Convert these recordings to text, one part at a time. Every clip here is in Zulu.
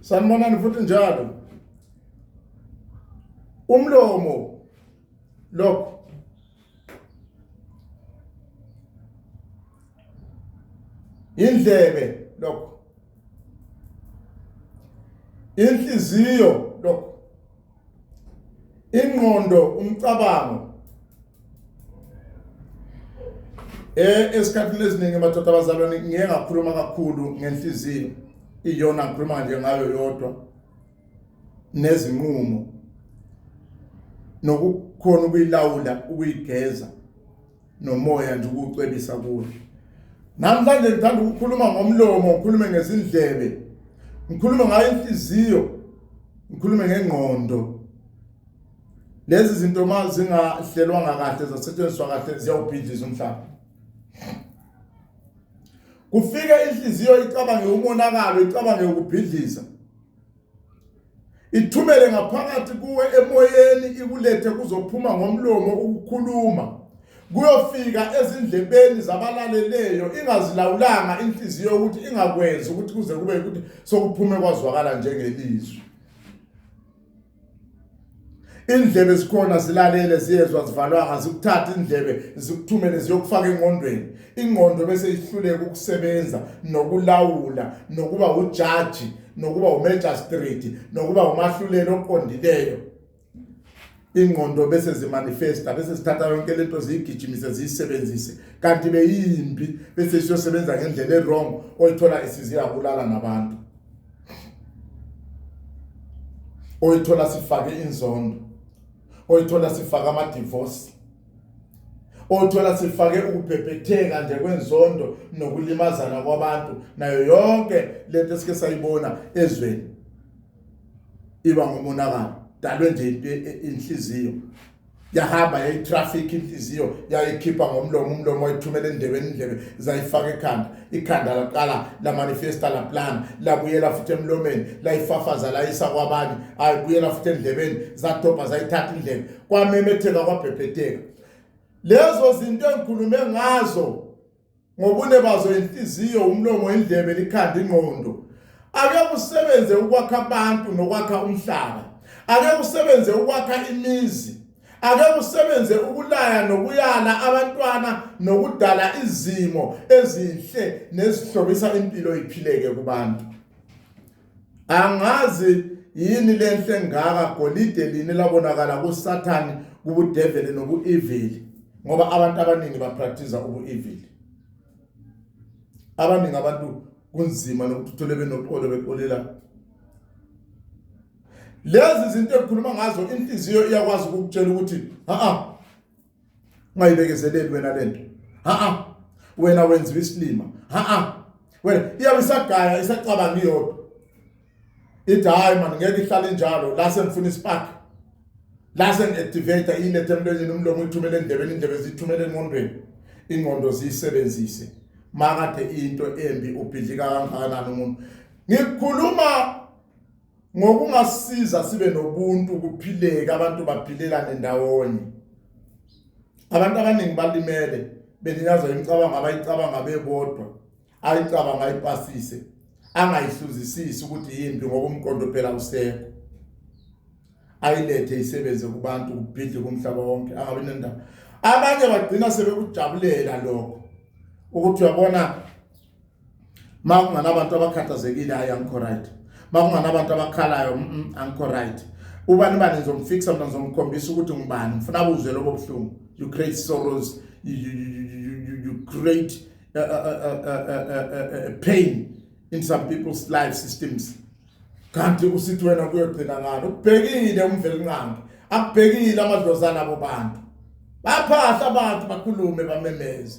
sanibonani futhi njalo umlomo lokho indlebe lokho inhliziyo lokho ingqondo umcabango eh esikhathini esiningi amadoda abazalwane ngiye ngakhuluma kakhulu ngenhliziyo iyona ngikhuluma nje ngayo yodwa nezinqumo nokukhona ukuyilawula ukuyigeza nomoya nje ukucwebisa kuwe namhlanje ngithanda ukukhuluma ngomlomo ngikhulume ngezindlebe ngikhulume ngayo inhliziyo ngikhulume ngengqondo lezi zinto uma zingahlelwanga kahle zasetshenziswa kahle ziyawubhidliza umhlaba kufike inhliziyo icabange umonakalo icabange ukubhidliza ithumele ngaphakathi kuwe emoyeni ikulethe kuzophuma ngomlomo ukukhuluma kuyofika ezindlebeni zabalaleleyo ingazilawulanga inhliziyo ukuthi ingakwenzi ukuthi kuze kube ukuthi sokuphume kwazwakala njengelizwi indlebe zikhona zilalele ziyezwa zivalwanga zikuthatha indlebe zikuthumele ziyokufaka engqondweni ingqondo bese ihluleka ukusebenza nokulawula nokuba ujaji nokuba umagistrate nokuba umahluleli oqondileyo ingqondo bese zimanifesta bese sithatha yonke lento ziyigijimise ziyisebenzise kanti beyimbi bese siyosebenza ngendlela ewrong oyithola isiziya kulala nabantu oyithola sifake inzondo oyithola sifaka ama divorce othola sifake ukubhebhetheka nje kwenzondo nokulimazana kwabantu nayo yonke lento esike sayibona ezweni iba ngomonakalo dalwe nje inhliziyo yahamba yayitraffic inhliziyo yayikhipha ngomlomo umlomo wayithumela endlebeni indlebe zayifaka ekhanda ikhanda laqala la manifesta la plan labuyela futhi emlomeni layifafaza layisa kwabanye ayibuyela futhi endlebeni zadobha zayithatha indlebe kwamemetheka kwabhebhetheka lezo zinto engikhulume ngazo ngobune bazo inhliziyo umlomo indlebe likhanda ingqondo ake kusebenze ukwakha abantu nokwakha umhlaba ake kusebenze ukwakha imizi ake kusebenze ukulaya nokuyala abantwana nokudala izimo ezinhle nezihlobisa impilo iphileke kubantu angazi yini lenhle ngaka golide lini labonakala kusathane kubudeveli nobuevili ngoba abantu abaningi bapractice ubuevili abaningi abantu kunzima nokuthi uthole benoxolo bexolela lezi zinto ekhuluma ngazo inhliziyo iyakwazi ukukutshela ukuthi ha ungayibekezeleli wena lento ha wena wenziwa isilima ha wena iyabe isagaya isacabanga iyodwa ithi hayi mani ngeke ihlale njalo la sengifuna ispark la sengi-activate ilethe emlonyeni umlomo uyithumele endlebeni indlebe ziyithumele engqondweni ingqondo ziyisebenzise makade into embi ubhidlika kangakanani umuntu ngikhuluma ngokungasiza sibe nobuntu kuphileke abantu baphilelane ndawonye abantu abaningi balimele beninyazwa imicabango abayicabanga bebodwa ayicabanga ayipasise angayihluzisisi ukuthi yimbi ngoba umqondo phela usekho ayilethe isebenze kubantu kubhidle kumhlaba wonke angabe nendaba abanye bagcina sebekujabulela lokho ukuthi uyabona uma kunganabantu abakhathazekile hayi angikho right uma kunganabantu abakhalayo mm, mm, angikho right ubani bani ngizomfikisa mina ngizomkhombisa ukuthi ngubani ngifuna buzwe lobo buhlungu you create sorrows you, you, you, you, you create a, a, a, a, a, a pain in some people's life systems kanti usithi wena kuyogcina ngani ubhekile umvelinqangi abhekile amadlozana abo bantu baphahla abantu bakhulume bamemeze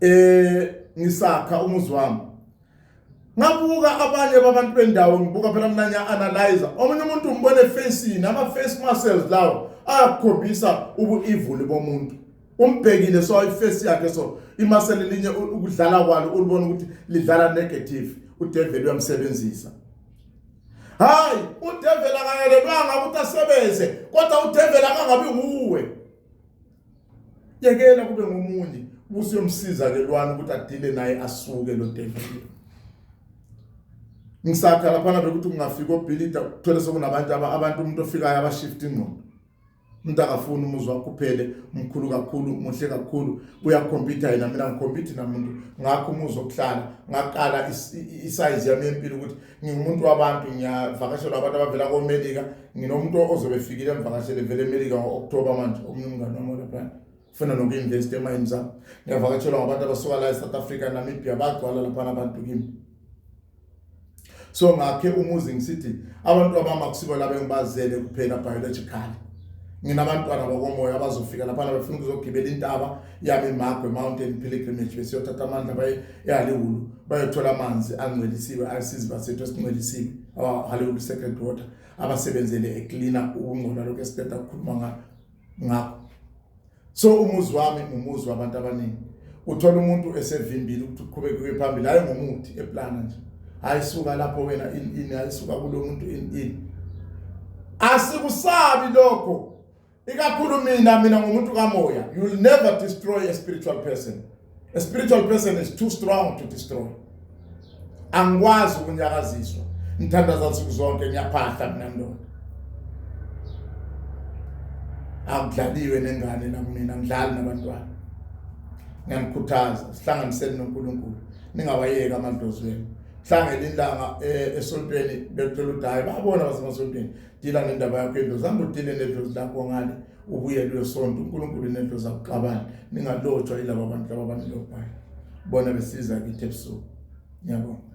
eh ngisakha umuzi wami ngabuka abanye babantu bendawo ngibuka phela mina ngiya analyze omunye umuntu umbone facing ama face muscles lawo ayakhombisa ubuevil bomuntu umbhekile so iface yakhe so imasele linye ukudlala kwalo ulibona ukuthi lidlala negative udeveli uyamsebenzisa hayi udeveli akayelelwanga ukuthi asebenze kodwa udeveli akangabi nguwe yekela kube ngomunye usiyomsiza ke lwana ukuthi adile naye asuke lo devil ngisakha lapha bekuthi kungafika obhilida ukuthola sokunabantu abantu umuntu ofikayo abashift ingqondo umuntu akafuni umuzi wakho uphele mkhulu kakhulu muhle kakhulu uyakhompyutha yena mina ngikhompyutha namuntu ngakho umuzi wokuhlala ngaqala isize yami yempilo ukuthi ngingumuntu wabantu ngiyavakashelwa abantu abavela komelika nginomuntu ozobe efikile emvakashele vele emelika ngo-okthoba manje omunye umngane wami olaphana funa noku-investa emayini zami ngiyavakatshelwa ngabantu abasuka la e-south africa namibia bagcwala laphana abantu kimi so ngakhe umuzi ngisithi abantu abama kusibo laba engibazele kuphela biologically nginabantwana bakomoya abazofika laphana befuna ukuzogibela intaba yami imagwe mountain pilgrimage besiyothatha amandla baye ehaliwulu bayothola amanzi angcwelisiwe asizi basethu esingcwelisiwe abahaliwulu second water abasebenzele ecleana ukungcola lokho esiqeda ukukhuluma ngakho ngakho so umuzi wami umuzi wabantu abaningi uthola umuntu esevimbile ukuthi uqhubeke kuye phambili hayi ngomuthi eplana nje hayi suka lapho wena in in hayi suka kulo muntu in in asikusabi lokho ikakhulu mina mina ngumuntu kamoya you will never destroy a spiritual person a spiritual person is too strong to destroy angikwazi ukunyakaziswa ngithandaza nsuku zonke ngiyaphahla mina ndoda akudlaliwe nengane nakumina ngidlali nabantwana ngiyanikhuthaza sihlanganiseni noNkulunkulu ningawayeki amadlozi wenu hlangela ilanga eh, esontweni bethola udayi babona basemasontweni dila ngendaba yakho into zihamba udile nedlozi lakho ngale ubuyele uyosonta unkulunkulu nedlozi akuxabani ningalotshwa yilaba abantu laba banilobhayo bona besiza kithi ebusuku ngiyabonga